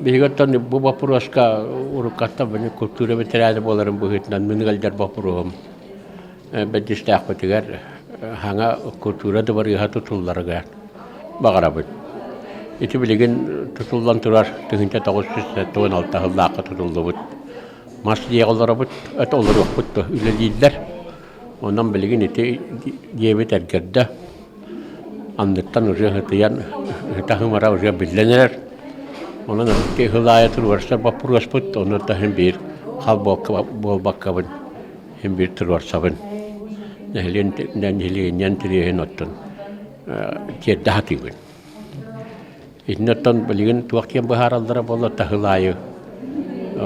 Биһигиттэн бу боппуруоска уруккаттан мин култуура бэтэрээнэ буоларым быһыытынан мин ыалдьар боппуруоһум бэддистээхпитигэр хаҥа култуура дыбарыаһа тутулларыгар баҕарабыт. Ити билигин тутуллан турар тыһыынча тоҕус сүүс туон алта сыллаахха тутуллубут. Мас дьиэҕэ олоробут, это олоруохпут да үлэлииллэр. Онон билигин ити диэбит эргэрдэ, анныттан ырыа ытыйан, таһымара ырыа биллэн эрэр. Онон ити ыһыл аайытын уларса боппуруоспут, онон таһын биир хал буолбаккабын, иһин биир туруорсабын. Нэһилиэнньэнэн тириэһин оттон тиэрдэ сатыыбын. Итиннэртэн билигин туох киэн быһаараллара буолла таһыл аайы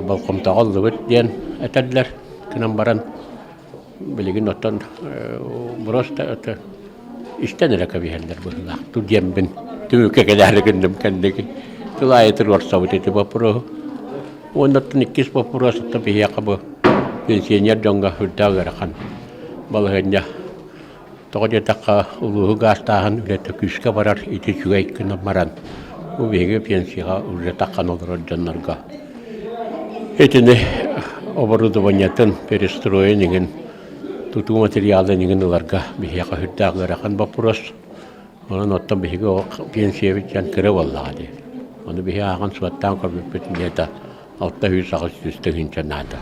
болҕомтоҕо ыллыбыт диэн этэллэр. Кынан баран билигин оттон броста истэн эрэ кэбиһэллэр быһыылаах. Ту диэмбин түмүккэ кэлээри гынным кэнниги. Тыл аайы туруорсабыт ити боппуруоһу. Уоннаттан иккис боппуруос ытта биһиэхэ бу пенсионер дьоҥго үрдээх ыарахан балаһыанньа Тоҕо диэтэххэ, улууһу гаастааһын үлэтэ күүскэ барар ити үчүгэй гынан баран, бу биһиги пенсияҕа улдьатаххына олорор дьоннорго итини оборудованиетын, перестроен иҥин, тутуу материалын иҥин ыларга биһиэхэ үрдээх ыарахан боппуруос. Онон оттон биһиги пенсиябыт дьон кыра буоллаҕа дии. Ону биһи ааҕан суоттаан көрбүппүт инниэ да алта үс аҕыс сүүс тыһыынча наада.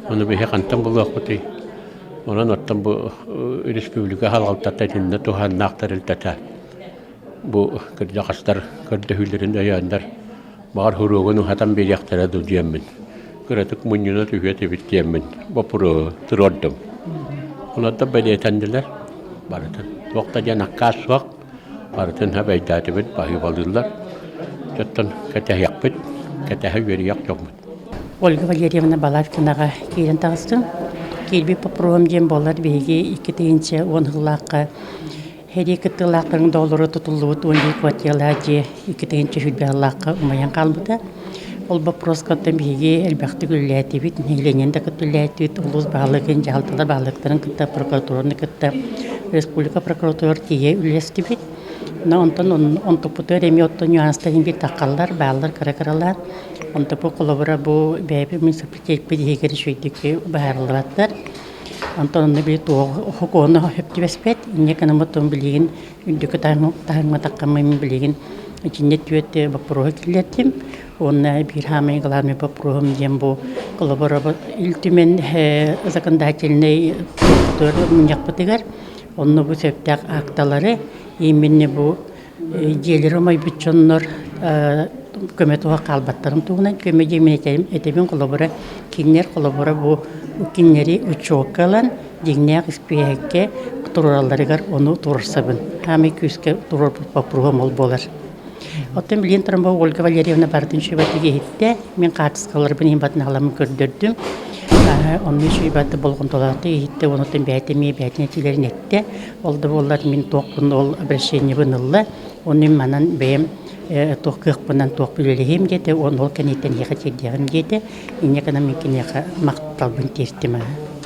Ону биһи хантан булуохпутуй? Онон оттон бу республика халалтата итиннэ туһааннаах тэрилтэтэ бу кырдьаҕастар көрдөһүүлэрин өйөөннөр баҕар хуруогун уһатан биэриэхтэрэ дуу диэммин кыратык мунньуна түһүө этибит диэммин боппуруоһу туруордум. Онордо бэлиэтэннилэр барытын. Туох да диэн аккаас суох Барытын эбэйдээтибит, баһыыбалыыллар. Оттон кэтэһиэхпит, кэтэһэ үөрүйэх дьоммут. Ольга Валерьевна Баларкинаҕа киирэн таҕыстым. Киирбит попробам диэн буоллар биһиги икки тыһыынча уон сыллаахха Хэрии кыттыылаахтарын доолоро тутуллубут уон биир квартиралаах дьиэ икки тыһыынча сүүрбэ сыллаахха умайан хаалбыта. Ол боппуруоскаттан биһиги элбэхтик үлэлээтибит, нэһилиэнньэни да кытта үлэлээтибит, улуус баһылыгын, дьаһалталар баһылыктарын кытта, прокуратураны кытта, республика прокуратура тиийэ үлэлэстибит. Онтон онтуппуту эмиэ оттон нюанстарын билтаххаллар, бааллар кыра-кыралаан. Онтупу холобура бу бэйэбит муниципалитетпит иһигэр үчүгэйдик быһаарыллыбаттар. Онтон онно били туох окуону сөптүбэспэт, инньэ гынаммыт билигин Үрдүкү таһымматахха мен билигин итиннэ түөт боппуруоһу киллэртим. Уонна биир хаамай главный боппуруоһум диэн бу колоборобот Ил Түмэн законодательнай тутур мунньахпытыгар онно бу сөптөөх акталары именно бу дьиэлэри омойбут дьоннор көмө туһа хаалбаттарын туһунан көмө диэми этэбин холобура кинилэр холобура бу кинилэри учетка ылан Дьиҥнээх испииһэккэ туруоралларыгар ону туруорсабын. Хаамый күүскэ туруорбут боппуруоһум ол буолар. Оттон билигин тромболог Ольга Валерьевна барытын сүбэтиг иһиттэ. Мин хаартыскаларбын иһин батын аламын көрдөрдүм. Онно сүбэт болҕомтолоохтук иһиттэ, онутун бэйэтэ эмиэ бэйэтин этиилэрин эттэ. Ол да буоллар мин туохпун ол обращениебын ылла. Ону мин манан бэйэм туох кыахпынан туох үлэлэһиэм диэтэ, он ол кэнниттэн эһиэхэ тиэрдиэҕим диэтэ. Инньэ гынан мин киниэхэ махталбын тиэртим.